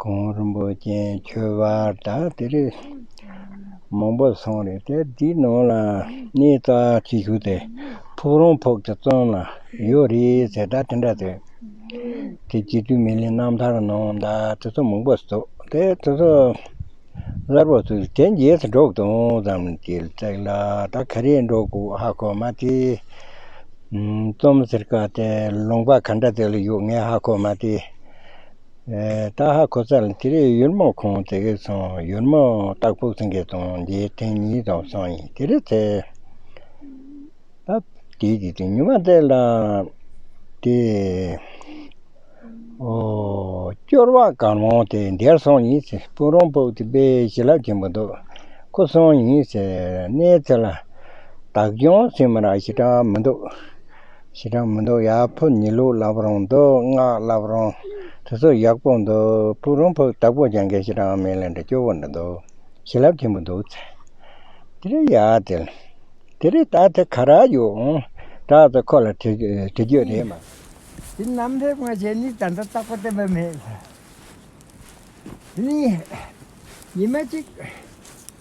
གོང་རིན་པོ་ཆེ་མཆོད་པ་དང་དེ་རིགས་མང་པོ་སོང་རེད་དེ་དེའི་ནང་ལ་གནས་རྩ་བྱེད་ཞུ་དེ་ཕུག་རོང་ཕུག་གི་བཙོན་ལ་ཡོད་རེད་ཟེར་ད་དེ་འདྲ་དེ་དེ་རྗེ་བཙུན་མི་ལའི་རྣམ་ཐར་ནང་ད་དེ་ཚོ་མང་པོ་སོ་དེ་དེ་ཚོ་གསར་པ་ཚོས་དེ་རྗེས་སུ་འགྲོགས་དང་ཙམ་བྱེད་བརྩེགས་ལ་ད་ག་རེ་འགྲོ་དགོས་ཧ་གོ་མ་དེ་རྩོམ་ཟེར་ཀ་དེ་ལུང་པ་ག་འདྲ་དེ་ལ་ཡོད་ངས་ཧ་གོ་མ་དེ། སྟག་ཧ་གོ་ཚ་ལ་དེ་རིང་ཡུར་མོ་ཁོང་དེ་གས་སོང་ཡུར་མོ་སྟག་ཕུག་ཚང་གས་དང་འདི་ཐེངས་གཉིས་དང་སང་ཡིན་དེ་རིང་ཚེ་རབས་དེ་གས་དེ་ཉི་མ་ཚེ་ལ་དེ་ཨོ་སྐྱོར་བ་གང་རུང་དེ་འདས་སོང་ཡིན་ཚེ་སྤུན་རོང་ཕུག་དེ་པས་བྱིན་རླབས་ཆེན་པོ་འདུག་ཁོ་སོང་ཡིན་ཚེ་གནས་ཚེ་ལ་བདག་སྐྱོང་སེམས་རང་ཞེ་དྲག་མི་འདུག། ཞེ་སྡང་མི་འདུག་ཡག་ཕོ་ཉི་ལུག་ལབ་རོང་འདུག་སྔགས་ལབ་རོང། དེ་ཚོ་ཡག་པོ་འདུག་ཕུག་རོང་ཕུག་སྟག་པོ་ཀྱང་འགས་ཞེ་སྡང་མེད་ལེ་འདྲ་སྐྱོ་བོ་འདྲ་འདུག་ཞེ་ལབ་ཆེན་པོ་འདུག་ཚེ། དེ་རེད་ཡག་དེ། དེ་རེད་ད་དེ་ག་རག་ཡོད་འོང་གྲགས་ཚོ་ཁོ་ལ་དྲི་རྒྱོད་རེད་མ། དེ་རྣམས་ཕེབས་སྔ་ཞེ་ནི་ད་འདྲ་རྟག་པ་བསྟན་པ་མེད། དེ་ནི་ཉི་མ་གཅིག།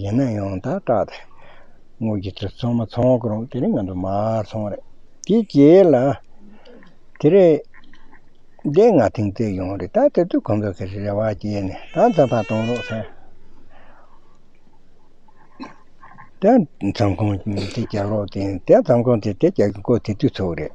ཡིན་ན་ཡང་དག་སྐྲག་སྟེ། དངུལ་གྱི་ཚུལ་ཚང་མ་ཚང་བར་རུང་དེ་རིང་ང་ཚོ་མ་ཚང་བ་རེད། དེའི་རྗེས་ལ། དེ་རེད། འདི་ང་ཐེངས་བརྩེགས་ཡོང་བ་རེད་ད་དེ་དུས་ཁོང་ཚོ་གི་རེ་བ་བརྗེད་ནས་ད་མཚམས་ཁ་གཏོང་རོགས་ཟེར། དེ་མཚམས་ཁོང་དེ་རྒྱག་རོགས་དེ་མཚམས་ཁོང་དེ་རྒྱག་གི་འགོ་དེ་དུས་ཚོགས་རེད།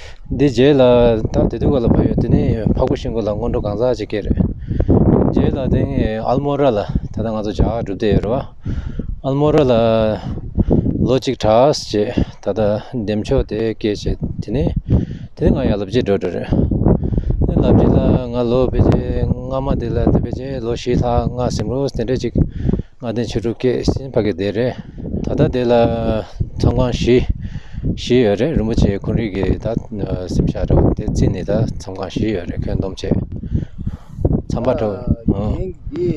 འདི་རྗེས་ལ་ད་དེ་དུས་ག་ལ་བབ་ཡོད་དེ་ནི་ཕག་པོ་ཤིང་ཀུ་ལ་སྔོན་འགྲོ་གང་ཟག་ཅིག་གི་རེད། རྗེས་ལ་དེ་སྔའི་ཨལ་མོ་ར་ལ་ད་ལྟ་ང་ཚོ་ཇག་སྒྲུབ་སྡེ་ཡོད་རེད་བ། ཨལ་མོ་ར་ལ་ལོ་གཅིག་གྲྭས་བྱེད་ད་ལྟ་འདེམས་ཆོག་དེ་སྐད་བྱེད་དེ་ནི་དེ་ནི་ང་ཡར་ལབ་རྗེས་འགྲོ་འགྲོ་རེད། ལབ་རྗེས་ལ་ང་ལོ་བེ་ཇེ་སྔ་མ་དེ་ལ་དེ་བེ་ཇེ་ལོ་བཞི་ལྷག་སྔ་སེམས་རུས་དེ་འདྲ་ཅིག་ལྔ་ལྡན་བྱི་ཕྲུག་སྐྱེས་ཟིན་ཕ་གི་སྡེ་རེད། ད་ལྟ་སྡེ་ལ་ཚང་ཁང་བཞི་བཞི་ཡོད་རེད་རིན་པོ་ཆེའི་འཁོན་རིགས་ཀྱི་ད་སེམས་ཤ་རེད་བ་དེ་རྩིས་ནི་ད་ཚང་ཁང་བཞི་ཡོད་རེད་ཁོན་སྡོམ་བྱས་མཚམས་པ་དྲོ་ཨང། འདི་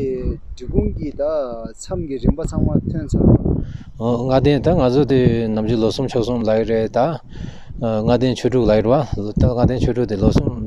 འབྲི་གུང་གི་ད་མཚམས་ཀྱི་རིན་པ་ཚང་མ་ཐོན་ཚར་བ། ལྔ་ལྡན་ད་ང་ཚོ་དེ་ནམ་རྒྱུན་ལོ་གསུམ་ཕྱོགས་གསུམ་ལ་ཡི་རེད་ད་ལྔ་ལྡན་ཆོས་དྲུག་ལ་ཡིར་བ་ལྔ་ལྡན་ཆོས་དྲུག་དེ་ལོ་གསུམ་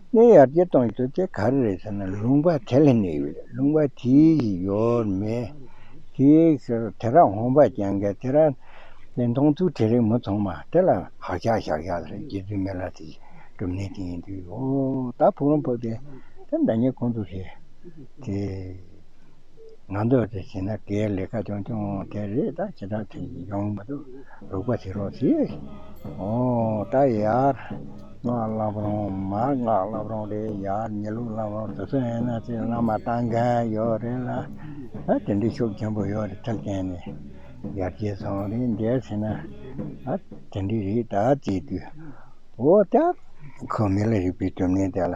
གནས་ཡར་རྒྱས་གཏོང་རྒྱུ་དེ་ག་རེ་རེད་ཟེར་ན་ལུང་པ་དེ་ལ་གནས་ཡོད་རེད་ལུང་པ་དེའི་ཡིག་ཡོད་མེད་དེ་ཟེར་དེ་ར་འོང་པ་ཀྱང་འགལ་དེ་ར་དེ་མཐོང་ཚུལ་དེ་རིགས་མི་མཐོང་མ་དེ་ལ་བག་ཆགས་བཞག་བཞག་རེད་རྒྱལ་བཙུན་མེ་ལ་དེ་གྲུབ་གནས་དེ་ཡིན་དུས་ཨོ་ད་ཕུག་རོང་ཕབ་དེ་དེ་འདྲ་ཉེས་ཁོང་ཚོས་བྱེད་དེ་ང་འདོད་དེ་བྱེད་ན་དེ་ལས་ཀ་ཆུང་ཆུང་དེ་རེད་ད་བྱེད་སྟངས་དེ་ཡོང་མི་འདུག་རུག་པ་བྱེད་རོགས་ཞེས་ཨོ་ད་ཡར། སྔགས་བསླབ་རུང་མར་སྔགས་བསླབ་རུང་རེད་ཡ་ཉེ་ལུགས་བསླབ་རུང་དེ་ཚོ་ཡིན་ན་ཚེ་བླ་མ་ལྟ་མཁན་ཡོད་རེད་ལ་ཨ་དེ་འདྲའི་ཕྱོགས་ཆེན་པོ་ཡོད་རེད་ཐེབས་མཁན་ནི་ཡར་རྒྱས་སོང་རེད་མཇལ་བྱས་ན་ཨ་དེ་འདྲའི་རེད་ད་བརྩིས་དུས་འོ་ད་ཁོ་མི་ལ་རིག་པའི་དོན་མིན་དེ་ལ།